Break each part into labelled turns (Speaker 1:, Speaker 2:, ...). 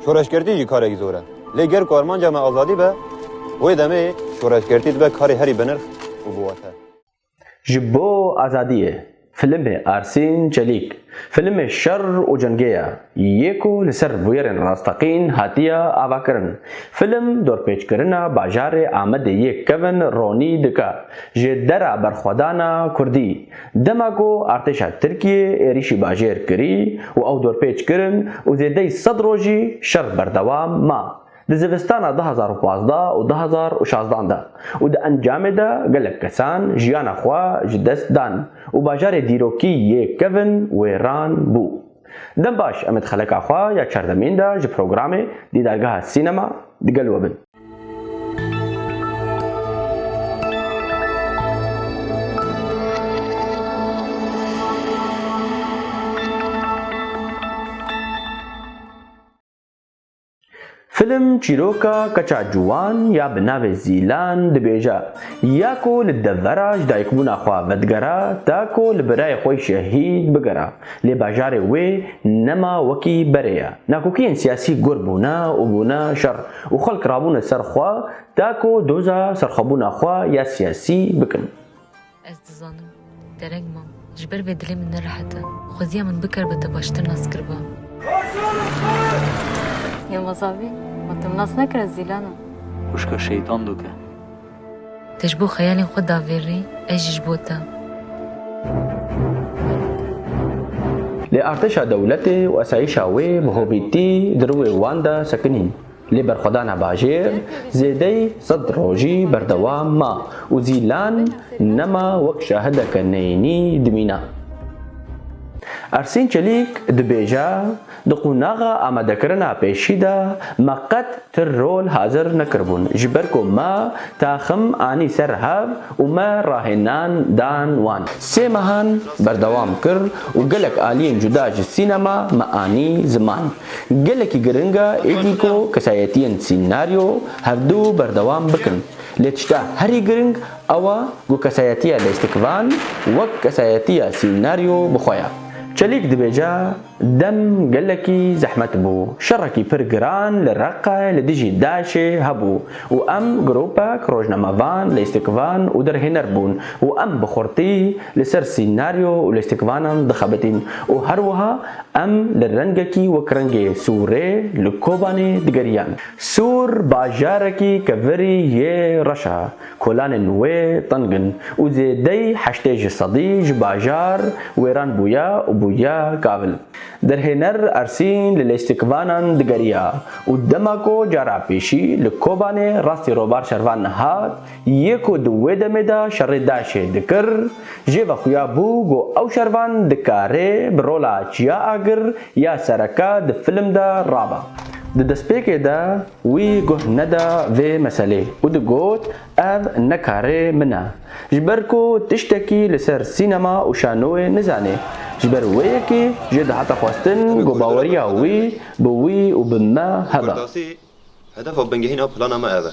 Speaker 1: Şoreşgertî jî karekî zor e. Lê ger ku armanca me azadî be, wê demê şoreşgertî dibe karê herî binirx û biwate. Ji
Speaker 2: bo azadiyê filmê Arsîn Çelîk, filmê Şer û Cengê ya yê ku li ser bûyerên rasteqîn hatiye avakirin. Film dorpêçkirina bajarê Amedê yê kevin ronî dike ji dera berxwedana kurdî. Dema ku artêşa Tirkiyê êrîşî bajêr kirî û ew dorpêç kirin û zêdeyî sed rojî şer berdewam ma di zivistana du hezar û pazdeh û du hezar û şazdan de û di encamê de gelek kesan jiyana xwe ji dest dan û bajarê dîrokî yê kevin wêran bû. Dem baş em ê di xeleka xwe ya çardemîn de ji programê Dîdargeha Sînema di gel we bin. Film çîroka keça ciwan ya bi navê Zîlan dibêje ya ku li devera ji dayikbûna xwe vedigera ta ku li birayê xwe şehîd bigera. Lê bajarê wê nema wekî berê ye. Nakokiyên siyasî gur bûne û bûne şer û xelk rabûne ser xwe ta ku doza serxwebûna xwe ya siyasî bikin. Ez dizanim
Speaker 3: dereng mam. Ji ber vê dilê min nerehet e. Xweziya min bikar be te baştir nas kiriba. Yilmaz
Speaker 4: Avî, ma te nas nekire zîlan e. Xwişka şeytan
Speaker 5: doke. Te
Speaker 3: ji bo xeyalên xwe da vê rê, ez jî ji bo te.
Speaker 2: Lê artêşa dewletê û esayîşa wê bi hovîtî di rûê wan de sekinîn. Lê berxwedana bajêr zêdeyî sed rojî berdewam ma û Zîlan nema wek şahideke neyînî dimîna. Ersîn Çelîk dibêje, Di qunaxa amadekirina pêşî de me qet ti rol hazir nekiribûn ji ber ku me taxim anî ser hev û me rahênan dan wan. Sê mehan berdewam kir û gelek aliyên cuda ji sînema me anî ziman. Gelekî giring e êdî ku kesayetiyên sînaryo hevdu berdewam bikin. Lê tişta herî giring ew e ku kesayetiya lêstikvan wek kesayetiya sînaryo bi xwe ye. Çelîk dibêje, Dem gelekî zehmet bû. Şerekî pir giran li Reqe li dijî DAIŞ'ê hebû û em gropek rojnamevan, lêstikvan û derhêner bûn û em bi xurtî li ser sînaryo û lêstikvanan dixebitîn û her wiha em li rengekî wek rengê sûrê li Kobanê digeriyan. Sûr bajarekî kevirî yê reş e. Kolanên wê teng in û zêdeyî heştê ji sedî ji bajar wêran bûye û bûye kavil. Derhêner Ersîn li lêstikvanan digeriya û dema ku cara pêşî li Kobanê rastî robar şervan nehat, yê ku di wê demê de şerê DAIŞ'ê dikir, jê vexuya bû ku ew şervan dikarê bi rola çiya agir ya sereke di film de rabe. Di destpêkê de, Wî guh neda vê meselê û digot, Ev ne karê min e. Ji ber ku tiştekî li ser sînema û şanoyê nizanê. Ji ber wê yekê jê dihate xwestin ku baweriya wî bi wî û bi me hebe. Hedefa
Speaker 1: bingehîna plana me ev e.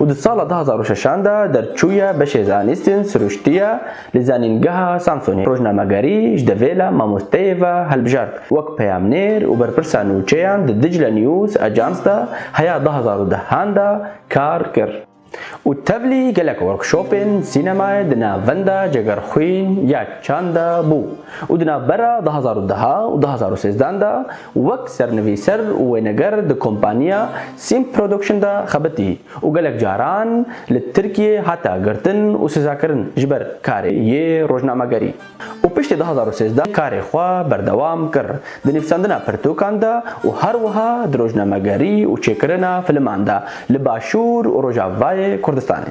Speaker 2: û di sala du hezar û şeşan de derçûye beşê zanîstên sirûştîye li Zanîngeha Samsonê. Rojnamegerî ji devêla mamosteyê ve hilbijart wek peyamnêr û berpirsa nûçeyan di Dicle News Agence de heya du hezar û deh an de kar kir û tevlî gelek workshopên sînemayê di navenda Cegerxwîn ya Çand de bû û di navbera du hezar û deh û du hezar û sêzdeh an de Wek sernivîser û wêneger di kompaniya Simp Production de xebitî û gelek caran li Tirkiyê hate girtin û sizakirin ji ber karê yê rojnamegerî û piştî du hezar û sêzdeh karê xwe berdewam kir di nivîsandina pirtûkan de û her wiha di rojnamegerî û çêkirina filiman de li Başûr û Rojavayê Kurdistanê.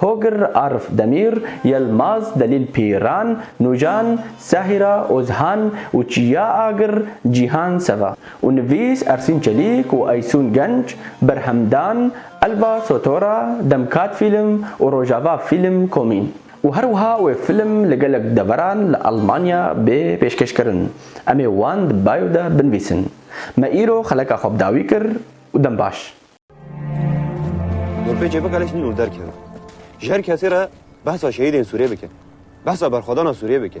Speaker 2: Hogr Arf Demîr, Yelmaz Delîl Pîran, Nûjan, Sehîra Ozhan û Çiya Agir, Cîhan Seva, û nivîs Ersîn Çelîk û Eysûn Genç, Berhemdan, Elva Sotora, Demkat Fîlm û Rojava Fîlm Komîn û her wiha wê fîlm li gelek deveran li Elmanya bê pêşkêşkirin. Em ê wan di bio de binivîsin. Me îro xeleka xwe bi dawî kir û dem baş. Nurpê
Speaker 1: Çêbik Elek nîn û derkeve. Ji her kesê re behsa şehîdên Sûriyê bike. Behsa berxwedana Sûriyê bike.